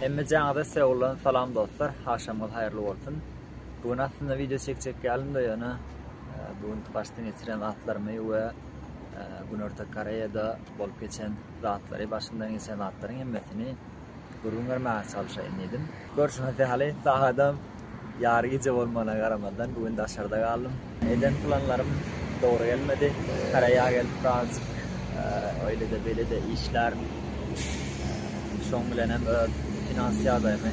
Hemmejaňyza Seuldan salam dostlar. Agşamyňyz haýyrly bolsun. Bu gün aslynda wideo çekjek ýalymda ýöne e, bu gün başdan geçiren zatlarymy we e, Günorta Koreýada bolup geçen zatlary, başymdan geçen zatlaryň hemmesini gürrüň bermäge çalyşaýyn diýdim. Görşüňiz ýaly, sagadam ýary gije bolmagyna garamazdan, bu gün daşarda galdym. Eden planlarym dogry gelmedi. Koreýa gelip birazajyk öýle-de, beýle-de işlärin. Şoň bilenem öz finans ýagdaýymy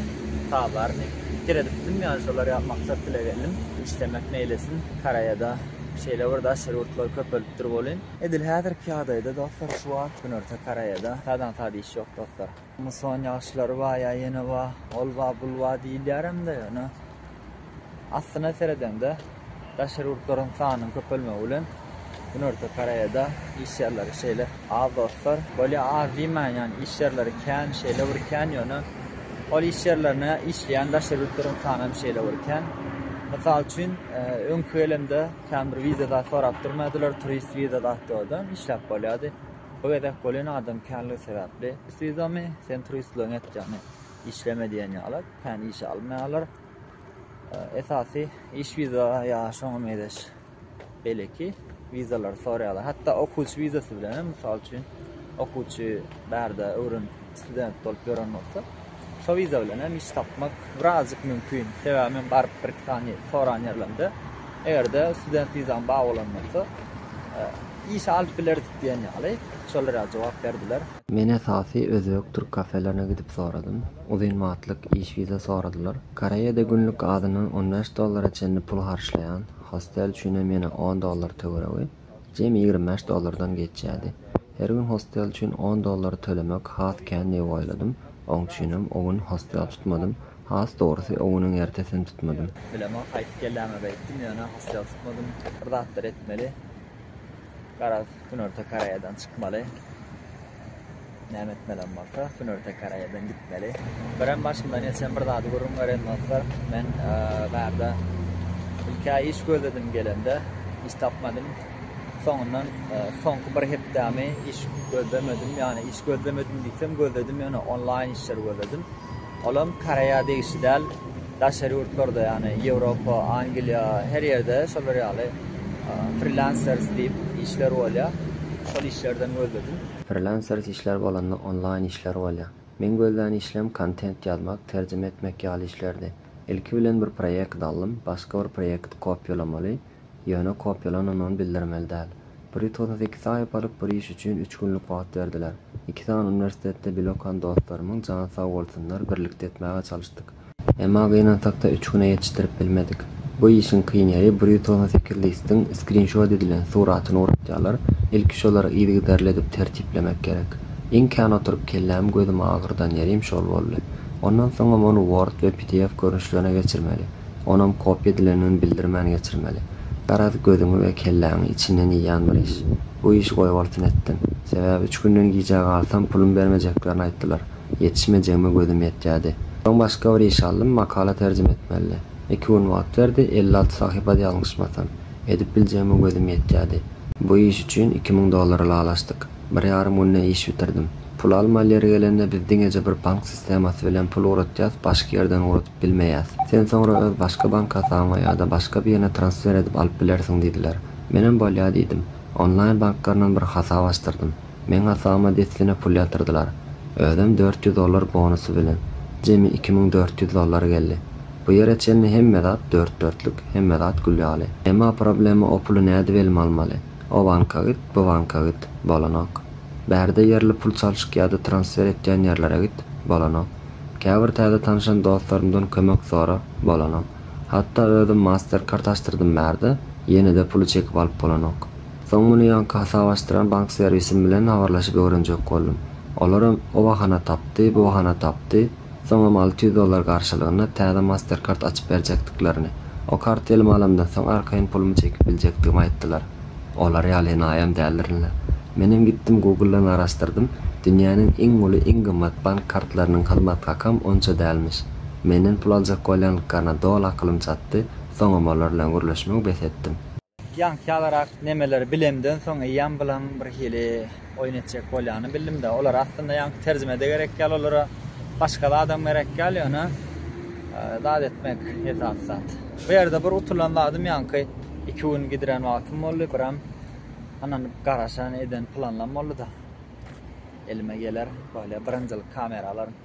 tabaryny seredipdim, ýagny şolar maksat dile geldim. Işlemek meýlesin, Koreýada şeýle bir daşary ýurtlar köpelipdir welin, Edil häzirki ýagdaýda dostlar şu wagt Günorta Koreýada sadan sad iş ýok dostlar. Muson ýagyşlary bar ýa ýene bar, ol bar, bul bar diýilýär hem-de ýöne aslyna seredeňde daşary ýurtlaryň sanynyň köpelmegi bilen Günorta Koreýada iş ýerleri şeýle az dostlar. Bolýa az diýmäýin ýagny iş ýerleri kän şeýle bir kän ýöne ol iş ýerlerine işleýän daşary ýurtlaryň sany hem şeýle bir kän. Mysal üçin öňki gelemde Kän bir wiza zat sorap durmadylar, turist wiza zatdy oda, işläp bolýardy. Bu gezek bolan adam känligi sebäpli, Turist wizamy, sen turistligiňi et ýagny işleme diýen ýaly, kän işe almaýarlar. Esasy iş wiza ýa şoňa mezeş beýleki wizalary soraýarlar. Hatda okuwçy wizasy bilenem, mysal üçin, okuwçy bärde öwrenip Student bolup ýören bolsa, şo wiza bilen hem iş tapmak birazjyk mümkin. Sebäbi men baryp bir-iki sany soran ýerlerimde, eger-de student wizaň bar bolan bolsa, iş alyp bileris diýen ýaly, şol ýaly jogap berdiler. Men esasy özbek, türk kafelerine gidip soradym. Uzyn wagtlyk iş wiza soradylar. Koreýada günlük azyndan on bäş dollara çenli pul harçlaýan, hostel üçinem ýene on dollar töweregi. Jemi ýigrimi bäş dollardan geçýärdi. Her gün hostel üçin on dollary tölemek has kän diýip oýladym. Oň üçinem o gün hostel tutmadym. Has dogrusy, o günüň ertesini tutmadym. Bilemok, gaýdyp gelläme beýtdim, ýöne hostel tutmadym. Bir zatlar etmeli. Garaz, Günorta Koreýadan çykmaly. Näme etmelem bolsa, günorta karaýadan gitmeli. Birem başymdan geçen bir zady gürrüň bereýin dostlar. Men bärde ilk-ä iş gözledim gelende, iş tapmadym. Soňundan soňky bir hepdämi iş gözlemedim. Ýagny iş gözlemedim diýsem, gözledim ýöne onlaýn işleri gözledim. Olam karaýa degişli däl. Daşary ýurtlarda, ýagny Ýewropa, Angliýa, her ýerde şolar ýaly Freelancers diýip işler bolýar. Şol işlerden gözledim. Freelancers işler bolanda onlaýn işler bolýar. Meň gözlän işlem kontent ýazmak, terjime etmek ýaly işlerdi. Ilki bilen bir proýekt aldym, başga bir proýekti kopýalamaly, Ýöne kopýalanandygyny bildirmeli däl. Bir ýutugyna sekiz saýyp alyp, bir iş üçin üç günlük wagt berdiler. Iki sany uniwersitetde bile okan dostlarymyň jany sag bolsunlar, birlikde etmäge çalyşdyk. Emma gynansak-da üç güne ýetişdirip bilmedik. Bu işiň kyn ýeri, bir ýutugyna sekiz listiň skrinşot edilen suratyny ugrukýarlar, ilki şolary yzygiderli edip tertiplemek gerek. Iň kän oturyp kellämi gözümi agyrdan ýerim şol boldy. Ondan soňam ony word we pdf görnüşlerine geçirmeli. onam kopýa edilendigini bildirmän geçirmeli. Garaz, gözüňi we kelläňi içinden iýýän bir iş. Bu işi goýbolsun etdim. Sebäbi üç günden gijä galsam, pulum bermejeklerini aýtdylar. Ýetişmejegime gözüm ýetýärdi. Soň başga bir iş aldym, makala terjime etmelidi. Iki gün wagt berdi, elli alty sahypady ýalňyşmasam. Edip biljegime gözüm ýetýärdi. Bu iş üçin iki müň dollar ylalaşdyk. Bir ýarym günde iş bitirdim. Pul almaly ýeri gelende biz diňeje bir bank sistemasybilen pul ugratýas, başga ýerden ugrat. Bilmeýäs. Sen soňra öz başga bank hasabyňa ýa-da başga birine transfer edip alyp bilersiň diýdiler. Menem bolýa diýdim. Onlaýn banklaryndan bir hasap açdyrdym. Meň hasabyma dessine pul ýatyrdylar. Özem dört ýüz dollar bonusy bilen. Jemi iki müň dört ýüz dollar geldi. Bu ýere çenli hemme zat dört-dörtlük, hemme zat gül ýaly. Emma problema o puly nädip elime almaly? O banka git, bu banka git, bolanok. Bärde ýerli pul çalşyk ýa-da transfer etýän ýerlere git, bolanok. Käbir täze tanyşan dostlarymdan kömek sorap bolanok. Hatda özüm Mastercard açdyrdym bärde, ýene-de puly çekip alyp bolanok. Soň muny ýaňky hasap açdyran bank servisim bilen habarlaşyp öwrenjek boldum. Olaram o bahana tapdy, bu bahana tapdy, soňam alty ýüz dollar garşylygynda täze Mastercard açyp berjekdiklerini, o karty elime alamdan soň arkaýyn pulumy çekip biljekdigimi aýtdylar. Olar ýaly naýam däldirin-le. Menem gitdim Google-dan garaşdyrdym, dünýäniň iň uly, iň gymmat bank kartlarynyň hyzmat hakam onça dälmiş. Menden pul aljak bolýanlyklaryna doly akylym çatdy, soňam olar bilen gürleşmegi bes etdim. Ýaňky ýalyrak nemeleri bilemden soň eýýäm bilaň birhili Oýun etjek bolýany bildim-de, olar aslynda ýaňky terjime-de gerek ýaly, olara başga zadam gerek ýaly, ýöne zat etmek esasy zat. Bu ýerde bir utulan zadym ýaňky iki gün gidiren wagtym boldy, biram anan garaşan eden planlam boldy-da. Elime geler, bolýa birinjilik kamera alaryn.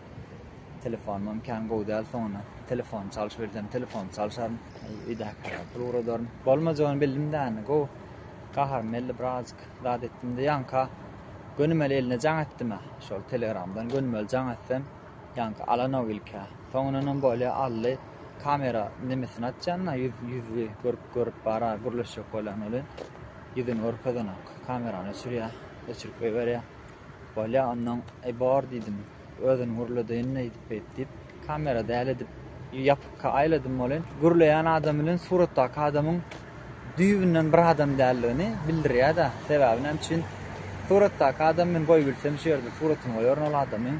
Telefonymam kän gowy däl, soňuna telefon çalyş bilsem, telefon çalşaryn. Öýdäkilere pul ugradaryn. Bolmajagyny bildim-de, indi gowy gaharym geldi birazajyk. zat etdimde ýaňka gönümeli eline jaň etdimä şol telegramdan gönümeli jaň etsem ýaňka alanok ilkä soňundanam bolýa aldy kamera nemesini açýanda ýüz ýüzi görüp görüp bara gürleşjek bolýan welin ýüzüni görkezenok kamerany öçürýä öçürip eberýä bolýa ondan e bor diýdim Özüni gürledeýin eýdip beýt diýip kamera däl edip ýapykka aýladym welin gürleýän adam bilen suratdaky adamyň düýbünden bir adam däldigini bildirýäda sebäbi näme üçin suratdaky adam men goýup bilsem şu ýerde suratyny goýaryn ol adamyň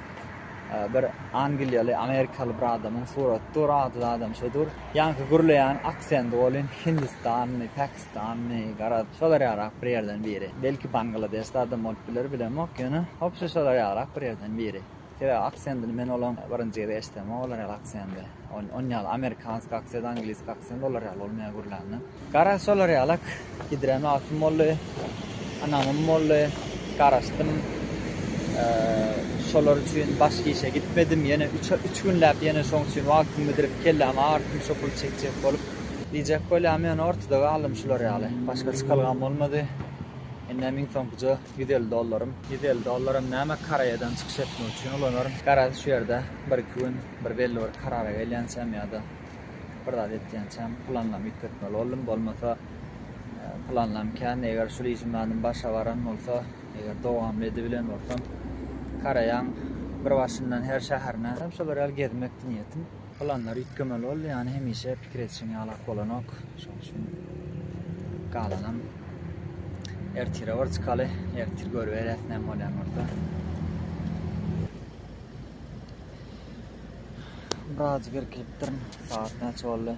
bir angliýaly amerikaly bir adamyň suraty dur ady adam şo dur ýaňky gürleýän aksendi welin hindistanly pakistan Danny, garaz, şolar ýalyrak bir ýerden biri. Belki Bangladesde adam bolup biler, bilemok, ýöne hopsa şolar ýalyrak bir ýerden biri. Sebäbi aksendini men olaň birinji gezek eşidemok olar ýaly aksendi. On ýaly amerikanski aksent, angliski aksent olar ýaly bolmaýar gürlände. Garaz şolar ýalak gidren wagtym boldy. Ynamym boldy. Garaşdym. Şolar üçin başga işe gitmedim. Ýene üç günläp ýene şoň üçin wagtymy bidirip kellämi agyrtdym şo puly çekjek bolup. Diýjek bolýan men ortada galdym şular ýaly. Başga çykalgam bolmady. Indi hem iň soňkuja ýüz elli dollarym. Ýüz elli dollaram näme Koreýadan çykyş etmek üçin ulanaryn. Garaz şu ýerde bir iki gün bir belli bir karara gelýänçäm ýa-da bir zat etýänçäm planlamy üýtgetmeli boldum. Bolmasa planlam kän eger şul işim zadym başa baran bolsa eger dowamly edibilen bolsam Koreýaň bir başyndan her şäherine hem şular ýaly gezmekdi niýetim. Planlar üýtgemeli boldy, ýany hemişe pikir edişiň ýaly ak bolanok. Şonuň üçin galanam ertire bir çykaly, ertir görübereris näme bolýan bolsa. Biraz irkilipdirin. Saat näçe boldy?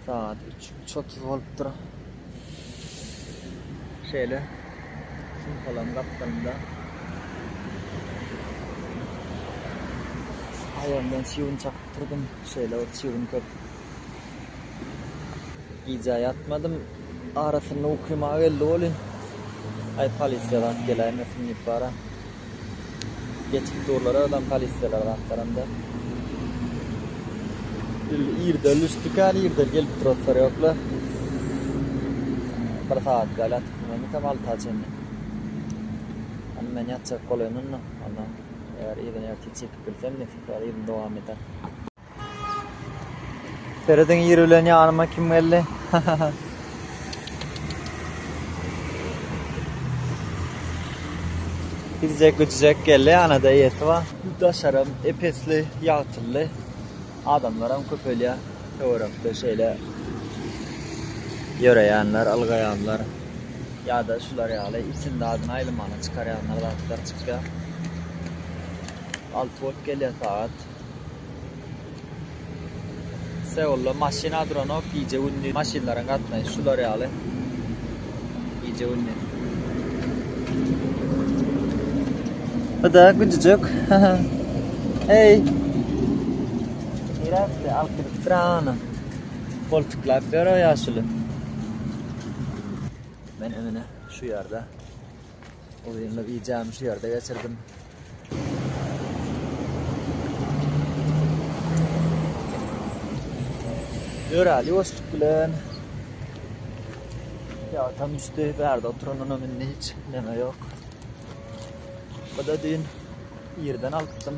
Sagat üç, üç otuz bolupdyr. Şeýle sumpalaryň gapdalynda aýagym bilen çybyn çakyp durdum. Şeýle ot çybyn köp. Gije ýatmadym. Arasynda ukyma geldi welin, aý polisiýa zat geläýmesin diýip bara. Geçip durlar aradan polisiýalar gapdalynda. Indi irden düşdükän irden gelip turaslar ýoklar. Bir sagat ýaly ýatyp bilmemikam alta çenli. Indi men ýatjak bolaýyn onda. Onda eger irden ertir çekip bilsem nesip ýaly irden dowam eder. Serediň ýeri bilen ýanyma kim geldi? Gidjek güjjek geldi anada ýeti bar. Daşaram epesli, ýagtylly. Adamlaram köpelýär. Töwerekde şeýle ýöreýänler, ylgaýanlar ýa-da şular ýaly itin zadyny aýlamaga çykarýanlar zatlar çykýar. Alty bolup gelýär sagat. Seulda maşyna duranok, gije-gündiz maşynlaryň gatnaýşy şular ýaly. Gije-gündiz. Bu-da güjüjek. Eý! Niresi alyp gidip durana? Goltuklap ýör o ýaşuly. Men öňüne şu ýerde. Bu günlük ijämi şu ýerde geçirdim. Ýöräli ýoşluk bilen ýagtam düşdi, bärde oturanynam indi hiç näme ýok. Bu da düýn irden alypdym.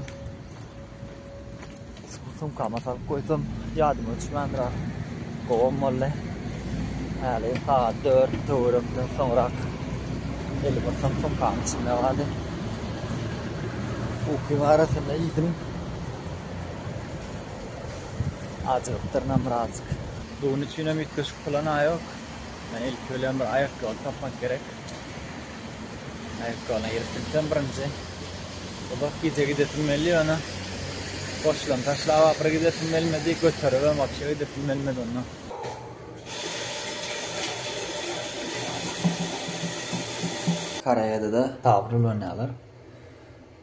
Sumkama salyp goýsam, ýadyma düşmändiräk. Gowam boldy. Häli sagat dört töwerekden soňrak elim ysgyn sumkanyň içinde galdy. Ukyň arasynda iýdim. Ajygypdyrynam birazjyk. Bu gün üçinem üýtgeşik plana ýok. Ilki bilen bir aýakgaba tapmak gerek. Aýakgabalyna girip bilsem birinji. Uzak gije gidesim geldi ýöne boşlugyny taşlap ahyry gidesim gelmedi, göteribem wapşe gidesim gelmedi onda. Koreýada-da tabir ulanýarlar.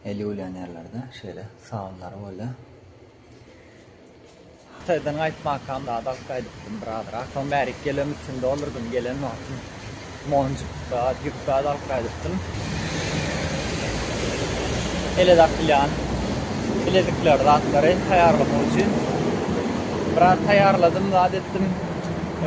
Eli ulanýarlar-da şeýle sabynlary bolýar. Hytaýdan gaýtmakam zat alyp gaýdypdym bir azrak. Soň bärik gelen üstünde olurdym. Gelen wagtym monjuk zat, ýük zat alyp gaýdypdym. Ele dakylýan bilezikleri, zatlary taýýarlamak üçin biraz taýýarladym, zat etdim,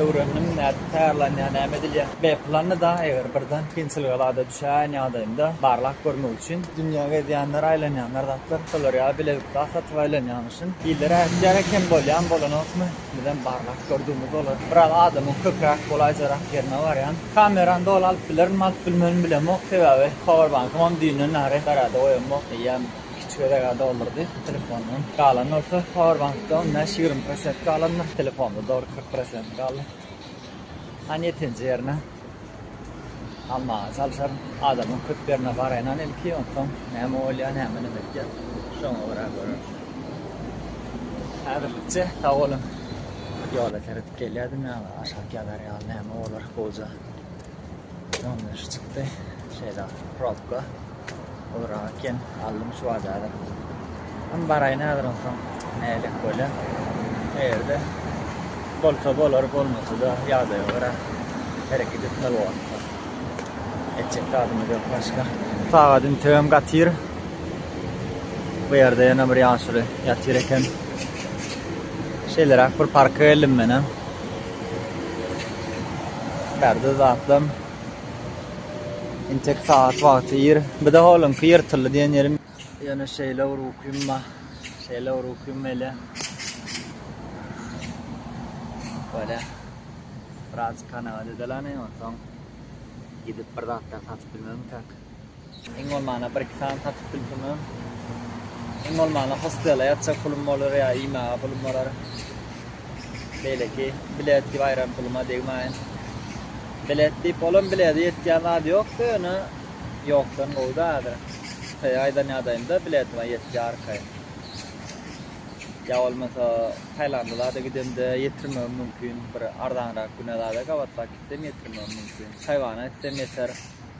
öwrendim nädip Taýýarlanýar, näme edilýär? B planyda, eger birden kyn çylgalada düşäýen ýagdaýynda, barlap görmek üçin dünýä gezýänler, aýlanýanlar zatlar, şolar ýaly bilezik zat satyp aýlanýaň üçin, iller ätýär eken, bolýan bolanokmy, bizem barlap gördügimiz bolar. Biraz adamyň köpräk golaýjarak ýerine barýan. Kamerany doly alyp bilerimmi, alyp bilmerin bilemok, sebäbi powerbankamam düýnden bäri garada goýanmok, eýýäm. Kiçi gezeg-ä doldurdy telefondan. Galan bolsa powerbank-da on bäş, ýigrimi prosent galandyr. Telefonda dogry kyrk prosent galdy. Hany ýetinji ýerine almaga çalşaryn. Adamyň köp ýerine baraýynam ilki, onsoň näme bolýar, näme bilen etýär, şoňa görä göreris. Häzirlikçe sag boluň. Ýola seredip gelýärdim ýaňy, aşak ýazar ýaly näme bolar gowja. Ýalňyş çykdy. Şeýle probka. Ora eken aldym şu bazara. Hem baraýyn häzir onsoň näle göle. Eýerde bolsa bolar, bolmasa-da ýagdaýa görä hereket etmeli bolupdyr. Etjek zadymyz ýok başga. Sagat integem gatyr. Bu ýerde ýene bir ýaşuly ýatyr eken. Şeýleräk bir parka geldim menem. Perde zatlam. Intek sagat wagty ýer. Bir de holuňky ýyrtyldy diýen ýerim. Ýöne şeýle bir ukym bar. Şeýle bir ukym gelýär. Böyle. Biraz kanagat edelaýyn onsoň gidip bir zatlar satyp bilmegem tek. Iň bolmanda bir iki sany satyp bilsem-ä. Iň bolmanda hostela ýatjak pulum bolar ýa iýmäge pulum bolar. Beýleki bilet diýip aýran puluma degmäýin. Bilet diýip olam bilede ýetýän zady ýok-da ýöne ýokdan gowy-da häzir. Hytaýa aýdan ýadaýymda biletima ýetýär arkaýyn. Ýa bolmasa Taýlanda zada gidemde ýetirmegim mümkin. Bir arzanrak güne zada gabatlap gitsem ýetirmegim mümkin. Taýwana gitsem ýeter.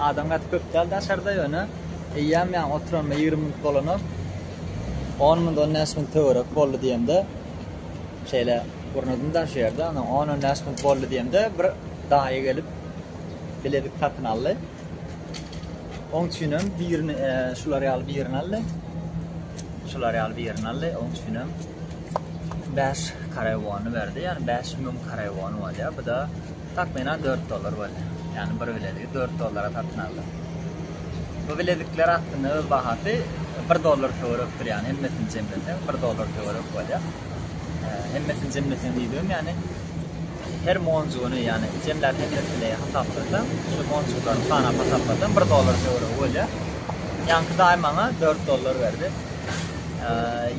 Adam gaty köp däl daşarda ýöne eýýäm ýaňy oturanyma ýigrimi minut bolanok. On minut, on bäş minut töwerek boldy diýemde, şeýle gurnadym-da şu ýerde, ondan on, on bäş minut boldy diýemde, bir daýy gelip, bilezik satyn aldy. Oň üçinem birini, şular ýaly birini aldy. Şular ýaly birini aldy, oň üçinem bäş karewony berdi, ýagny bäş müň karewony bolýar. Bu-da Takmynan dört dollar bolýar. Ýagny bir bilezigi dört dollara satyn aldyk. Bu bilezikler aslynda öz bahasy bir dollar töwerekdir, ýagny hemmesini jemleseň bir dollar töwerek bolýar. Hemmesini jemleseň diýdigim, ýagny her monjugyny, ýagny jemläp hemmesini hasaplasaň, şu monjuklary sanap hasaplasaň bir dollar töweregi bolýar. Ýaňky daýy maňa dört dollar berdi.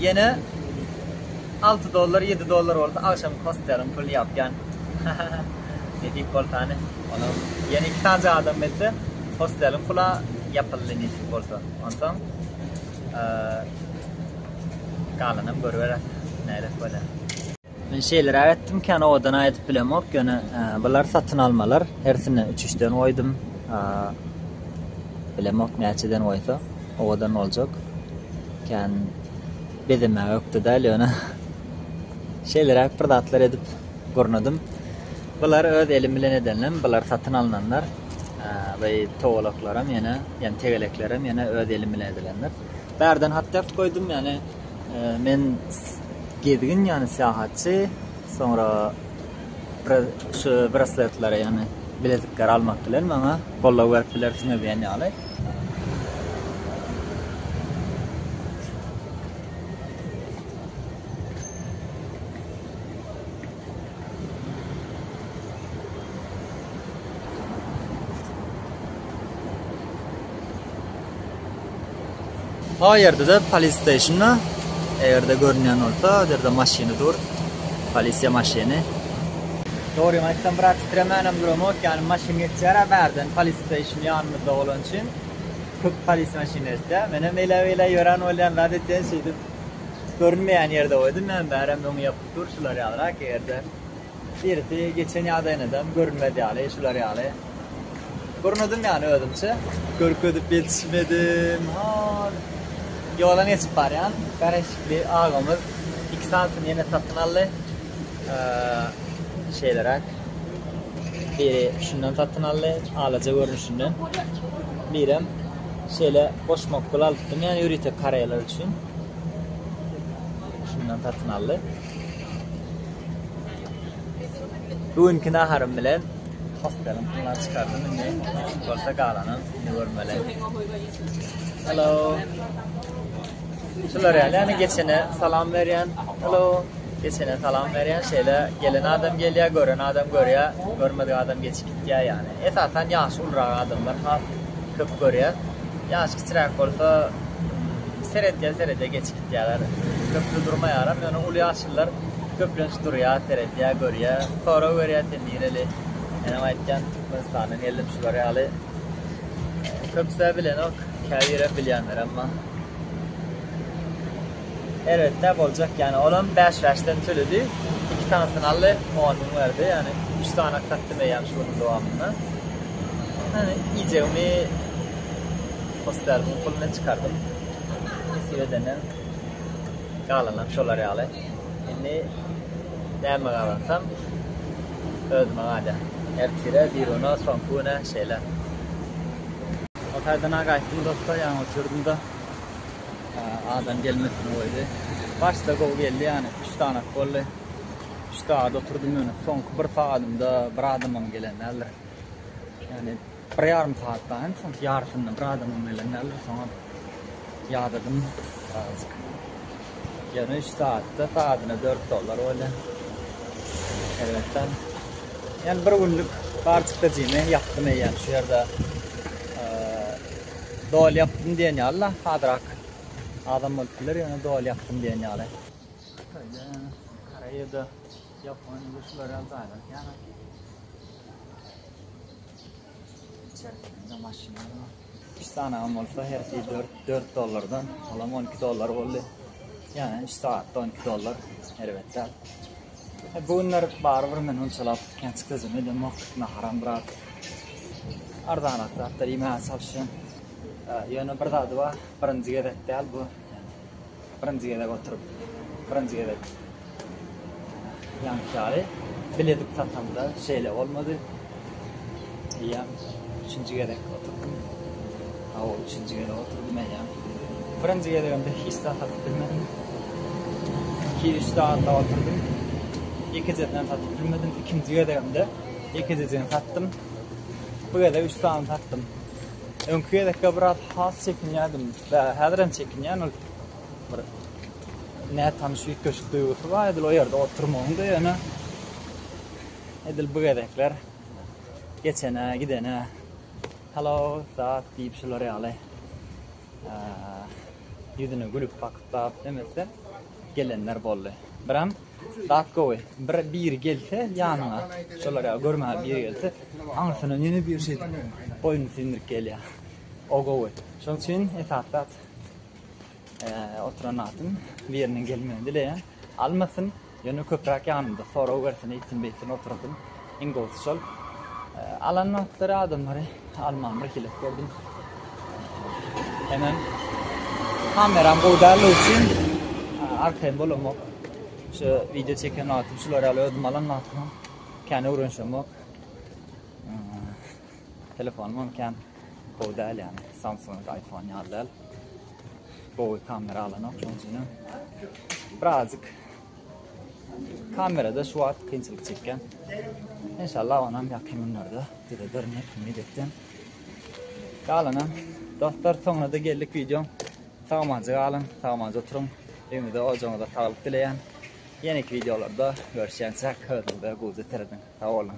Ýene Alty dollar ýedi dollar bolsa agşamky hosteliň pulny ýapýan ne diýip bolsany onam ýene iki sany adam gelse hosteliň pula ýapyldy ne diýip bolsa onsoň galanam görüberer nädip bolýar. Men şeýleräk etdim kän owadan aýdyp bilemok ýöne bular satyn almalar hersine üç üçden goýdum bilemok näçeden goýsa owadan boljak kän. Bezemäge ökde däl, ýöne şeýleräk bir zatlar edip gurnadym. Bular öz elim bilen edenlem, bular satyn alnanlar. We towalaklaram ýene, ýani tegeleklerim ýene öz elim bilen edilenler. Bärden hat ýazyp goýdum, ýani men gezgin, ýani syýahatçy, soňra Biraz şu brasletleri, ýagny bilezikleri almak bilen maňa goldaw berip bilersiňiz diýen ýaly. O ýerde-de polis steýşnda, eger-de görünýän bolsa, o ýerde maşyny dur, polisiýa maşyny. Dogrymy aýtsam, biraz titremänem duramok, ýagny maşyn geçýär-ä bärden, polis steýşn ýanymyzda bolany üçin, köp polis maşyny geçýär. Menem eýle-beýle ýören bolýan zat etýän, şeýdip, görünmeýän ýerde goýdum, ýagny bärem öňi ýapyk dur, şular ýalyrak, eger-de. Birisi geçen ýadaýynadam görünmez ýaly, şular ýaly. Gurnadym ýany özümçe. Görkezip ýetişmedim, hol. Ýola geçip barýan, garaşykly agamyz iki sanysyny ýene satyn aldy. Şeýleräk. Biri şundan satyn aldy, alaja görnüşinden. Birem şeýle boş mokgul alypdym, ýöne ýörite koreýalar üçin. Şundan satyn aldy. Bu günki naharym bilen hosteliň puluny çykardym indi nesip bolsa galanyny görmeli. Hello. Şular ýaly ýa geçene salam berýän. Hello. Geçene salam berýän. Şeýle gelen adam gelýär, gören adam görýär, görmedik adam geçip gitýär ýaly. Esasan ýaşy ulrak adamlar has köp görýär. Ýaşy kiçiräk bolsa seredýär, seredýär geçip. gitýärler. Köpri durmaýaram, ýöne uly ýaşlylar köplenç durýar, seredýär, görýär, sorag berýär, sen nireli? Menem aýtýan, Türkmenistandan geldim, şular ýaly. Köpüsä bilenok, käbirem bilýänlerem bar. Erbet-dä boljak, ýani olam bäş-bäşden töledi. Iki sanysyny aldy, on müň berdi, ýani üç sany satdym eýýäm şu günüň dowamynda. Ýani iýjegimi hossarymyň puluna çykardym. Nesip edende galanam şolar ýaly. Indi näme gazansam özüme galýar. Ertire biruna soňky güne şeýle. Ol taýdan-a gaýtdym dostlar, ýaňy oturdym-da, adam gelmesini goýdy. Başda gowy geldi ýany, üç sanak boldy. Üç sagat oturdym ýöne soňky bir sagadymda bir adamam gelen däldir. Ýani. Bir ýarym saat bar hem soň ýarysyndan bir adamym bilen däldir soňam ýadadym birazajyk. Ýöne üç saatda sadyna dört dollar bolýa. Erbetden. Ýöne bir günlük barçykda jymy ýapdym eýýäm şu ýerde. Dol ýapdym diýen ýaly-la hazrak adam bolup biler ýöne dol ýapdym diýen ýaly. Şeýle Koreýada, Ýaponiýada şular ýaly jaýlar kän. Çerkesinde maşyny ýok. Üç sanagam bolsa hersi dört, dört dollardan, olam on iki dollar boldy. Yani üç saatda on iki dollar, erbet däl. E, bu günler barybir men onçalap kenç gözüm edemok, naharam biraz arzanak zatlar iýmäge çalyşýan. E, ýöne bir zady bar, birinji gezek däl bu. Birinji gezek oturyp, birinji gezek ýaňky ýaly biledik satamda şeýle bolmady. Eýýäm üçünji gezek oturdym. Hawa, üçünji gezek oturdym eýýäm. Birinji gezegimde hiç zat satyp bilmedim. Iki üç sagatda oturdym. Ekizeden satyp bilmedim. Ikinji gezegimde ekizeden satdym. Bu gezek üç sany satdym. Öňki gezekde biraz has çekinýärdim. Häzir hem çekinýän ol bir nätanyş üýtgeşik duýgusy bar edil o ýerde oturmagyň da ýöne edil bu gezekler geçene gidene hello zat diýip şular ýaly ýüzüne gülüp bakyp bap demese gelenler boldy. Birem dat gowy. Bir biri gelse ýanyňa, şolar ýaly görmäge biri gelse, aňyrsyna ýene biri şeýdip boýnuny sindirip gelýär. O gowy. Şonuň üçin esasy zat oturan zatym biriniň gelmegini dileýän. Almasyn, ýöne köpräk ýanymda sorag bersin, eýtsin-beýtsin otursyn. Iň gowusy şol. Alan wagtlary adamlary alman bir hile gördüm. Hemen kameram gowy däl üçin arkaýyn bolamok. Şu video çeken wagtym şular ýaly özüm alan wagtym kän öwrenşemok. Telefonym hem kän gowy däl ýaly. Samsung, iPhone ýaly däl. Gowy kamera alanok şonuň üçin. Birazjyk Kamerada şu wagt kynçylyk çekýän. Inşallah onam ýakyn günlerde düzederin diýip umyt etýän. Galanam dostlar soňuna da geldik wideoň. Sagmanca galyň, sagmanca oturyň. Öýüňize, ojagyňyza saglyk dileýän. Ýeneki wideolarda görüşýänçäk özüňize göwze serediň. Sag boluň.